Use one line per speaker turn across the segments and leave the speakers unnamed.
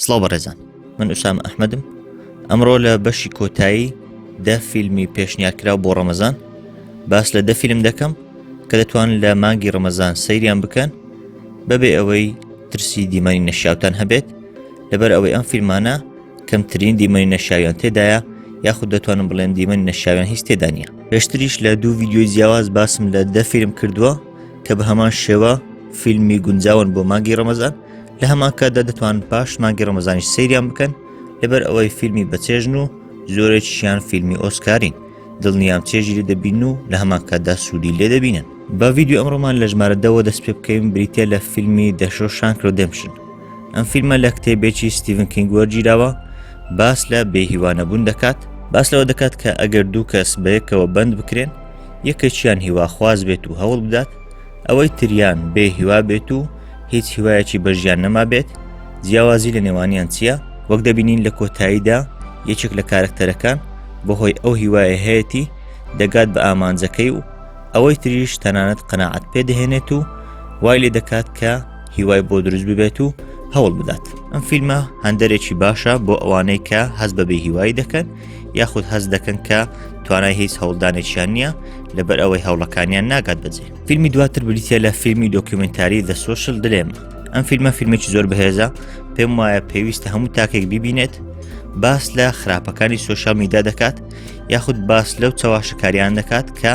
سڵاو بەڕێزان من ئوسام ئەحمدم ئەمڕۆ لە بەشی کۆتایی دە فیلمی پێشنیارکرا بۆ ڕەمەزان باس لە دە فیلم دەکەم کە دەتوان لە مانگی ڕەمەزان سەیریان بکەن بەبێ ئەوەی ترسی دیمەنی نەشاوتان هەبێت لەبەر ئەوەی ئەم فیلمانە کەمترین دیمەنی نەشاویان تێدایە یاخود دەتوانم بڵێن دیمەنی نەشاویان هیچ تێدانە پێشتریش لە دوو ویددیوی جیاواز باسم لە دە فیلم کردووە کە بە هەمان شێوە فیلمی گونجاون بۆ مانگی ڕەمەزان لە هەمانکاتدا دەتوان پاش مانگی ڕەمەزانیش سریان بکەن لەبەر ئەوەی فیلمی بەچێژن و زۆرێکیشیان فیلمی ئۆسکارین دڵنیام چێژی لێ دەبین و لە هەمان کاتدا سوودی لێ دەبینن بە ویددیو ئەمڕۆمان لە ژمارە دەوە دەست پێ بکەین بریتە لە فیلمی دەشۆ شانکرۆ دەمشن ئەم فیلمە لە کتێبێکی ستیڤن کینگ وەرگیراوە باس لە بێهیوانەبوون دەکات باس لەوە دەکات کە ئەگەر دوو کەس بەیەکەوە بند بکرێن یەکێکیان هیواخواز بێت و هەوڵ بدات ئەوەی تریان بێ هیوا بێت و هیچ هیوایەکی بەژیان نەما بێت جیاوازی لە نێوانیان چییە وەک دەبینین لە کۆتاییدا یەکێک لە کارکتەرەکان بەهۆی ئەو هیوایە هەیەی دەگات بە ئامانجەکەی و ئەوەی تریش تەنانەت قەنەعات پێدەهێنێت و وای لێ دەکات کە هیوای بۆ دروست ببێت و هەوڵ بدات ئەم فیلمە هەندێکی باشە بۆ ئەوانەی کە هەز بەبێ هیوای دەکەن یاخود هەست دەکەن کە توانای هیچ هەوڵدانێکیان نییە لەبەر ئەوەی هەوڵەکانیان ناگات بەجێ فیلمی دواتر بریتە لە فیلمی دۆکیومنتاری دە سوشل دلێمە ئەم فیلمە فیلمێکی زۆر بەهێزە پێم وایە پێویستە هەموو تاکێک ببینێت باس لە خراپەکانی سوۆشال میدا دەکات یاخود باس لەو چەواشەکاریان دەکات کە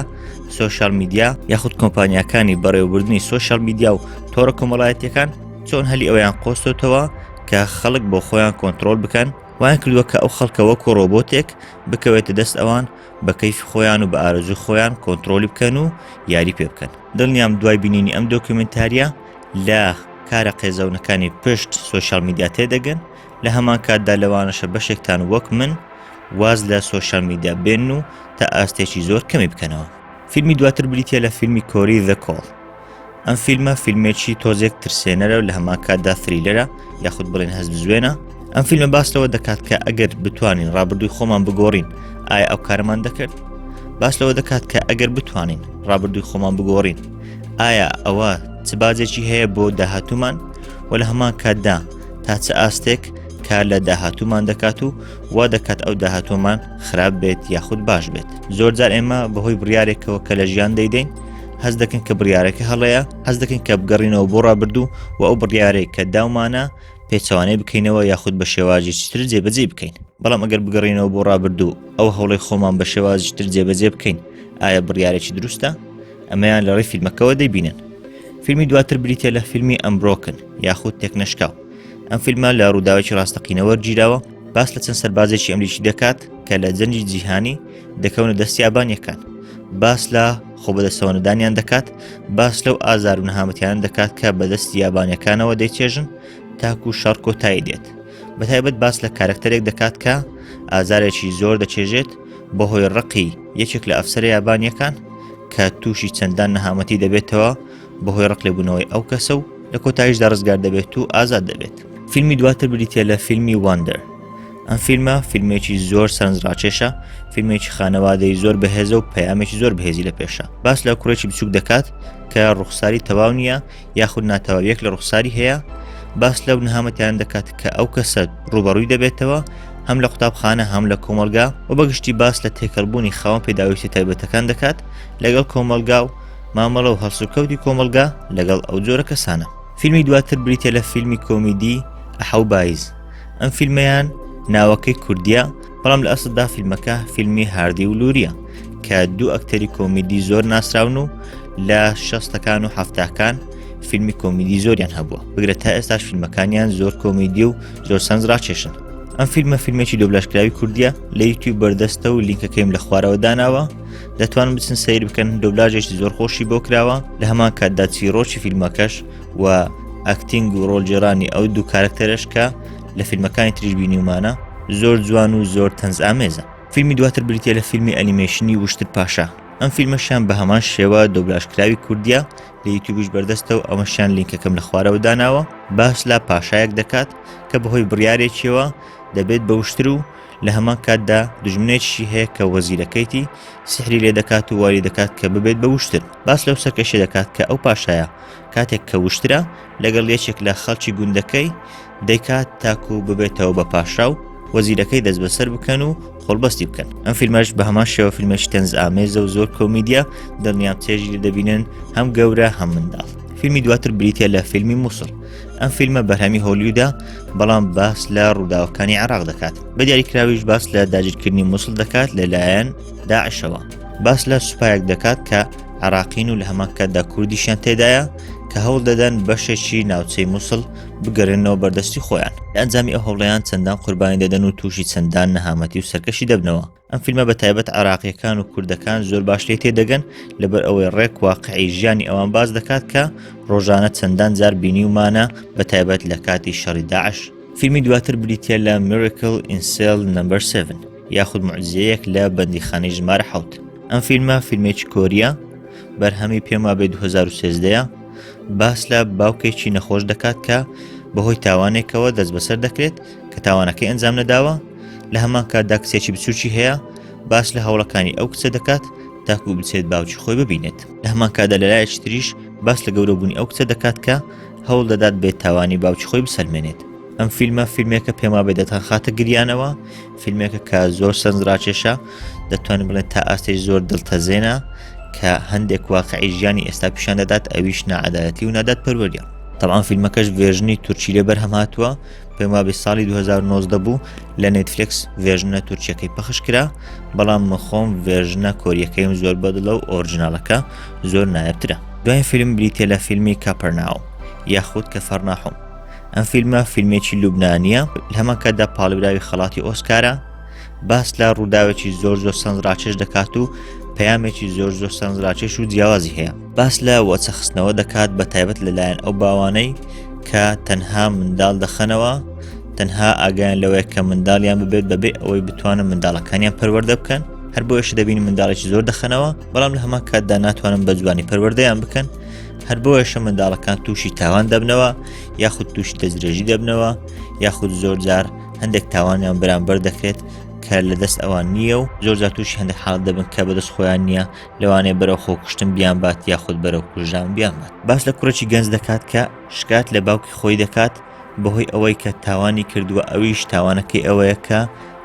سوۆشال میدیا یاخود کۆمپانیەکانی بەڕێوەبردننی سوۆشال میدیا و تۆڕە کۆمەڵایەتەکان چۆن هەلی ئەویان قۆستۆتەوە کە خەڵک بۆ خۆیان کۆنتترۆل بکەن وایان کردووە کە ئەو خەڵکە وەکو ڕۆبۆتێک بکەوێتە دەست ئەوان بە کەیفی خۆیان و بە ئارەزوی خۆیان کۆنتترۆلی بکەن و یاری پێ بکەن دڵنیام دوای بینینی ئەم دۆکیومنتاریە لە کارە قێزەونەکانی پشت سوۆشال میدیا تێدەگەن لە هەمان کاتدا لەوانەشە بەشێکتان وەک من واز لە سوۆشال میدیا بێن و تا ئاستێکی زۆر کەمی بکەنەوە فیلمی دواتر بریتە لە فیلمی کۆری ذکۆڵ ئەم فیلمە فیلمێکی تۆزێک ترسێنەرە و لە هەمان کاتدا فریلەرە یاخود بڵێن هەست بزوێنە ئەم فیلمە باس لەوە دەکات کە ئەگەر بتوانین ڕابردووی خۆمان بگۆڕین ئایا ئەو کارمان دەکرد باس لەوە دەکات کە ئەگەر بتوانین ڕابردووی خۆمان بگۆڕین ئایا ئەوە چ باجێکی هەیە بۆ داهاتومان و لە هەمان کاتدا تا چ ئاستێک کار لە داهاتومان دەکات و وا دەکات ئەو داهاتۆمان خراپ بێت یاخود باش بێت زۆرجار ئێمە بەهۆی بڕارێکەوە کە لە ژیان دەیدەین هەست دەکەن کە بڕیارەکە هەڵەیە هەست دەکەن کە بگەڕینەوە بۆ ڕابردوو و ئەو بڕیارێک کە داومانە پێچوانەی بکەینەوە یاخود بە شێواجی چتر جێبەجێ بکەین بەڵام ئەگەر بگەڕینەوە بۆ ڕابردوو ئەو هەوڵی خۆمان بە شێوازی چتر جێبەجێ بکەین ئایا بڕیارێکی دروستە ئەمەیان لە ڕێ فیلمەکەەوە دەبینن فیلمی دواتر بریتە لە فیلمی ئەمبرۆکن یاخود تێکنەشکاو ئەم فیلمە لە ڕووداوێکی ڕاستەقینەوە گیراوە باس لە چەند سەربازێکی ئەمریکی دەکات کە لە جەنجی جیهانی دەکەونە دەستیابانیەکان باس لە خۆ بەدەستەوەنەدانیان دەکات باس لەو ئازار و نەهامەتیان دەکات کە بەدەست یابانەکانەوە دەیچێژن تاکو شەڕ کۆتایی دێت بە تایبەت باس لە کارکتەرێک دەکات کە ئازارێکی زۆر دەچێژێت بەهۆی ڕقی یەکێک لە ئەفسەر یابانیەکان کە تووشی چەندان نەهامەتی دەبێتەوە بەهۆی ڕق لێبوونەوەی ئەو کەسە و لە کۆتاییشدا ڕزگار دەبێت و ئازاد دەبێت فیلمی دواتر بریتە لە فیلمی واندەر ئەم فیلمە فیلمێکی زۆر سەرنجڕاکێشە فیلمێکی خانەوادەی زۆر بەهێزە و پەیامێکی زۆر بەهێزی لە پێشە باس لە کوڕێکی بچوک دەکات کە ڕوخساری تەواو نییە یاخود ناتەواویەک لە ڕوخساری هەیە باس لەو نهامەتیان دەکات کە ئەو کەسە ڕوبەڕووی دەبێتەوە هەم لە قوتابخانە هەم لە کۆمەلگا و بەگشتی باس لە تێکەڵبوونی خاوەن پێداویستی تایبەتەکان دەکات لەگەڵ کۆمەلگا و مامەڵە و هەڵسوکەوتی کۆمەلگا لەگەڵ ئەو جۆرە کەسانە فیلمی دواتر بریتە لە فیلمی کۆمیدی ئەحەو بایز ئەم فیلمیان ناوەکەی کوردیە بەڵام لە ئەسدا فیلمەکە فیلمی هاردی و لوریە کە دوو ئەکتەری کۆمیدی زۆر ناسراون و لە شەستەکان و هەفتاکان فیلمی کۆمیدی زۆریان هەبووە بگرە تا ئێستاش فیلمەکانیان زۆر کۆمیدی و زۆر سەنج ڕاکێشن ئەم فیلمە فیلمێکی دۆبلاشکراوی کوردیە لە یوتیوب بەردەستە و لینکەکەیم لە خوارەوە داناوە دەتوان بچن سیر بکەن دۆبلاژێکی زۆر خۆشی بۆ کراوە لە هەمان کاتدا چیرۆکی فیلمەکەش و ئەکتینگ و ڕۆژێرانی ئەو دوو کارکتەرش کە لە فیلمەکانی تریش بینیومانە زۆر جوان و زۆر تەنز ئامێزە فیلمی دواتر بریتە لە فیلمی ئەنیمێشنی وشتر پاشا ئەم فیلمەشیان بە هەمان شێوە دۆبلاشکراوی کوردیا لە یوتیوبش بەردەستە و ئەمەشیان لینکەکەم لە خوارەوە داناوە باس لا پاشایەک دەکات کە بەهۆی بڕارێکیەوە دەبێت بە وشتر و لە هەمان کاتدا دژمنێکشی هەیە کە وەزیرەکەیتی سحری لێ دەکات و واری دەکات کە ببێت بە وشتر باس لەو سەرکەشێ دەکات کە ئەو پاشایە کاتێک کە وشترا لەگەڵ یەکێک لە خەڵکی گوندەکەی دەیکات تاکو ببێتەوە بە پاشا و وەزیرەکەی دەست بەسەر بکەن و خۆڵبەستی بکەن ئەم فیلمەش بە هەمان شێوە فیلمێکی تەنز ئامێزە و زۆر کۆمیدیا دڵنیام چێژی لە دەبینن هەم گەورە هەم منداڵ فیلمی دواتر بریتە لە فیلمی مووسڵ ئەم فیلمە بەرهەمی هۆلیودا بەڵام باس لە ڕووداوەکانی عراق دەکات بە دیاریکراویش باس لە داگیرکردنی مووسڵ دەکات لەلایەن داعشەوە باس لە سوپایەک دەکات کە عراقین و لە هەمان کاتدا کوردیشیان تێدایە کە هەوڵ دەدەن بەشێکی ناوچەی مووسڵ بگەرێنەوە بەردەستی خۆیان ئەنجامی ئەو هەوڵیان چەندان قوربانی دەدەن و تووشی چەندان نەهامەتی و سەرکەشی دەبنەوە ئەم فیلمە بە تایبەت عراقیەکان و کوردەکان زۆر باش لێ تێدەگەن لەبەر ئەوەی ڕێک واقعی ژیانی ئەوان باز دەکات کە ڕۆژانە چەندان جار بینی ومانە بە تایبەت لە کاتی شەڕی داعش فیلمی دواتر بریتە لە میرکل ئینسل نمبر 7. یاخود معزیەیەک لە بەندیخانەی ژمارە حوت ئەم فیلمە فیلمێکی کۆریە بەرهەمی پێما بێ 2013 باس لە باوکێکی نەخۆش دەکات کە بەهۆی تاوانێکەوە دەست بەسەر دەکرێت کە تاوانەکەی ئەنجام نەداوە لە هەمان کاتدا کچێکی بچوکی هەیە باس لە هەوڵەکانی ئەو کچە دەکات تاکو بچێت باوکی خۆی ببینێت لە هەمان کادا لە لایەکی تریش باس لە گەورەبوونی ئەو کچە دەکات کە هەوڵ دەدات بێت تاوانی باوکی خۆی بسەلمێنێت ئەم فیلمە فیلمێکە پێم وابێ دەتان خاتە گریانەوە فیلمێکە کە زۆر سەرنجڕاکێشە دەتوانین بڵێن تا ئاستێک زۆر دڵتەزێنە کە هەندێک واقعی ژیانی ئێستا پیشان دەدات ئەویش نەعادایەتی و نادات پەروەریە تەوان فیلمەکەش ڤێژنی تورکی لێ بەرهەم هاتووە پێم وابێ ساڵی 2009 بوو لە نێتفلکس ڤێژنە تورکیەکەی پەخش کرا بەڵام مخۆم ڤێژنە کۆریەکەیم زۆر بەدڵە و ئۆرجنالەکە زۆر نایەترە دوای فیلم بریتە لە فیلمی کاپەرناو یاخود کە فەرناحوم ئەم فیلمە فیلمێکی لوبنانیە هەمان کاتدا پاڵبراوی خەڵاتی ئۆسکارە باس لە ڕووداوێکی زۆر زۆر سەنج ڕاکێش دەکات و پەیامێکی زۆر زۆر سەنج ڕاکێش و جیاوازی هەیە باس لە وەچەخستنەوە دەکات بە تایبەت لەلایەن ئەو باوانەی کە تەنها منداڵ دەخەنەوە تەنها ئاگیان لەوەیە کە منداڵیان ببێت بەبێ ئەوەی بتوانن منداڵەکانیان پەروەەردە بکەن هەر بۆیش دەبین منداڵێکی زۆر دەخەنەوە بەڵام لە هەمان کاتدا ناتوانن بە جوانی پەروەردەیان بکەن هەر بۆیەشە منداڵەکان تووشی تاوان دەبنەوە یاخود تووشی دەستدرێژی دەبنەوە یاخود زۆرجار هەندێک تاوانیان بەرامبەر دەکرێت کە لە دەست ئەوان نییە و زۆرجار تووشی هەندێک حاڵ دەبن کە بەدەست خۆیان نییە لەوانەیە بەرەو خۆکوشتن بیان بات یاخود بەرەو کوژان بیان بات باس لە کوڕێکی گەنج دەکات کە شکات لە باوکی خۆی دەکات بەهۆی ئەوەی کە تاوانی کردووە ئەویش تاوانەکەی ئەوەیە کە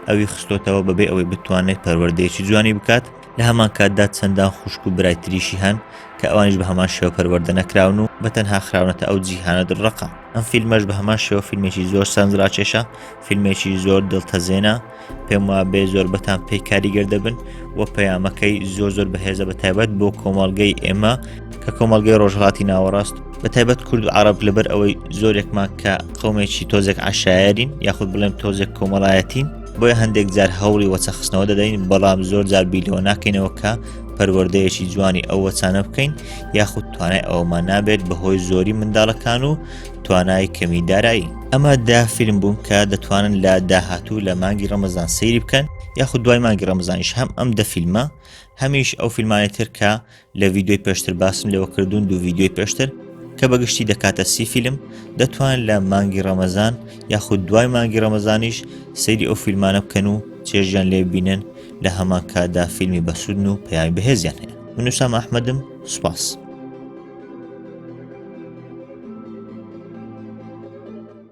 ئەوی خستۆتەوە بەبێ ئەوەی بتوانێت پەروەردەیەکی جوانی بکات لە هەمان کاتدا چەندان خوشک و برای تریشی هەن کە ئەوانیش بە هەمان شێوە پەروەردە نەکراون و بە تەنها خراونەتە ئەو جیهانە دڕەقە ئەم فیلمەش بە هەمان شێوە فیلمێکی زۆر سەنجڕاکێشە فیلمێکی زۆر دڵتەزێنە پێم وا بێ زۆر بەتان پێی کاریگەر دەبن و پەیامەکەی زۆر زۆر بەهێزە بە تایبەت بۆ کۆمەڵگەی ئێمە کە کۆمەلگەی ڕۆژهڵاتی ناوەڕاست بە تایبەت کورد و عرب لەبەر ئەوەی زۆرێکمان کە قومێکی تۆزێک عشایرین یاخود بڵێم تۆزێک کۆمەڵایەتین بۆیە هەندێک جار هەوڵی وەچەخستنەوە دەدەین بەڵام زۆر جار بیلەوە ناکەینەوە کە پەروەردەیەکی جوانی ئەو وەچانە بکەین یاخود توانای ئەومان نابێت بەهۆی زۆری منداڵەکان و توانای کەمی دارایی ئەمە دا فیلم بوون کە دەتوانن لە داهاتوو لە مانگی ڕەمەزان سەیری بکەن یاخود دوای مانگی ڕەمەزانیش هەم ئەم دە فیلمە هەمیش ئەو فیلمانی تر کە لە ڤیددیوی پێشتر باسم لەوە کردوون دوو ڤیددیوی پێشتر کە بەگشتی دەکاتە سی فیلم دەتوان لە مانگی ڕەمەزان یاخود دوای مانگی ڕەمەزانیش سەیری ئەو فیلمانە بکەن و چێژیان لێ بینن لە هەمان کاتدا فیلمی بەسوودن و پەیامی بەهێزیان هەیە منوسام ئەحمەدم سوپاس.